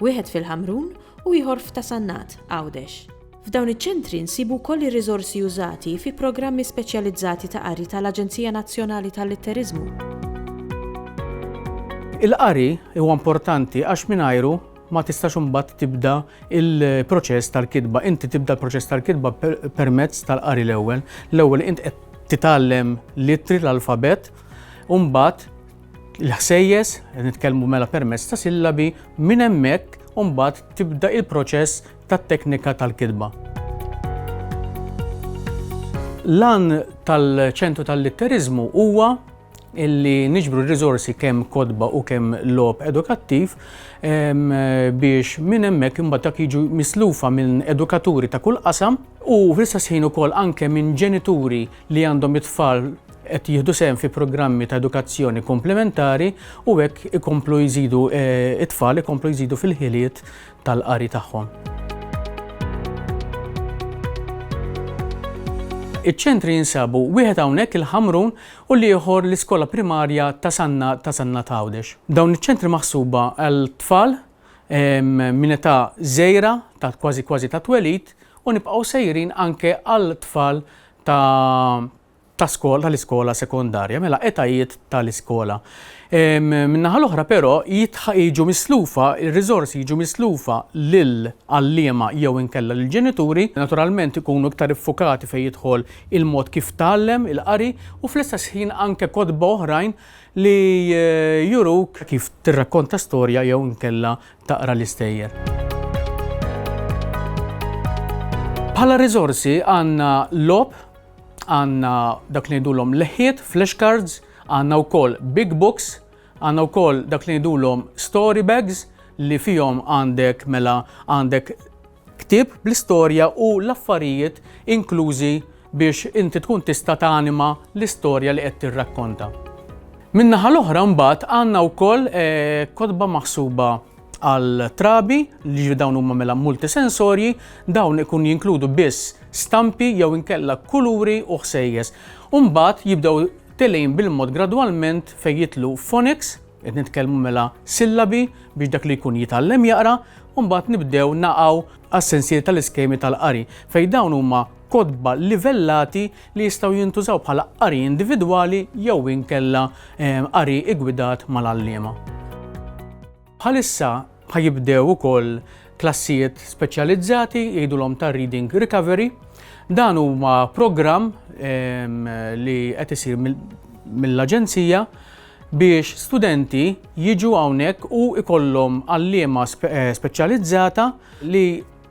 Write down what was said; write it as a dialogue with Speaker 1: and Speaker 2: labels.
Speaker 1: Wieħed fil-Ħamrun u ieħor f'Ta' Sannat, Għawdex. F'dawn iċ-ċentri nsibu wkoll ir-riżorsi użati fi programmi speċjalizzati ta' qari tal-Aġenzija Nazzjonali tal-Litteriżmu.
Speaker 2: Il-qari huwa importanti għax mingħajru ma tistax imbagħad tibda il-proċess tal-kitba. Inti tibda l-proċess tal-kitba permezz tal-qari l-ewwel. L-ewwel int qed titgħallem l-ittri l-alfabet, u mbagħad il-ħsejjes, nitkellmu mela permezz ta' sillabi, minn hemmhekk u mbagħad tibda il-proċess tat-teknika tal-kitba. L-għan tal-ċentru tal-litteriżmu huwa illi niġbru r-riżorsi kemm kodba u kemm lob edukattiv biex minn hemmhekk imbagħad dak jiġu mislufa minn edukaturi ta' kull qasam u fl-istess ħin ukoll anke minn ġenituri li għandhom it-tfal qed jieħdu sehem fi programmi ta' edukazzjoni komplementari u hekk ikomplu jżidu it-tfal ikomplu jżidu fil-ħiliet tal-qari tagħhom. Iċ-ċentri jinsabu wieħed hawnhekk il-Ħamrun u l-ieħor l-Iskola Primarja ta' Sanna ta' Sanna Tawdex. Dawn iċ-ċentri maħsuba għal tfal minn età żejra ta' kważi kważi ta' twelid u nibqgħu sejrin anke għal tfal ta' ta' skola tal-iskola sekondarja, mela etajiet tal-iskola. Min-naħa l-oħra però jiġu mislufa, ir-riżorsi jiġu mislufa lil għalliema jew inkella lil ġenituri, naturalment ikunu iktar iffukati fejn jidħol il-mod kif tgħallem, il-qari, u fl-istess ħin anke kotba oħrajn li juruk kif tirrakkonta storja jew inkella taqra l-istejjer. Bħala riżorsi għandna logħob, għandna dak li ngħidulhom leħħiet, flashcards, għandna wkoll big books, għandna wkoll dak li ngħidulhom story bags li fihom għandek mela għandek ktib bl-istorja u l-affarijiet inklużi biex inti tkun tista' tanima l-istorja li qed tirrakkonta. Min-naħa l-oħra mbagħad għandna wkoll eh, kotba maħsuba Għal trabi, li dawn huma mela multisensorji, dawn ikun jinkludu biss stampi jew inkella kuluri u ħsejjes. Umbagħad jibdew telejn bil-mod gradwalment fejn jitlu phonics, qed nitkellmu mela sillabi biex dak li jkun jitgħallem jaqra, umbagħad nibdew naqgħu għas-sensier tal-iskemi tal-qari fejn dawn huma kotba livellati li jistgħu jintużaw bħala qari individwali jew inkella qari ggwidat mal-għalliema. Bħalissa ħa jibdew ukoll klassijiet speċjalizzati jgħidulhom ta' Reading Recovery. Dan huma programm li qed isir mill-Aġenzija biex studenti jiġu hawnhekk u ikollhom għalliema speċjalizzata li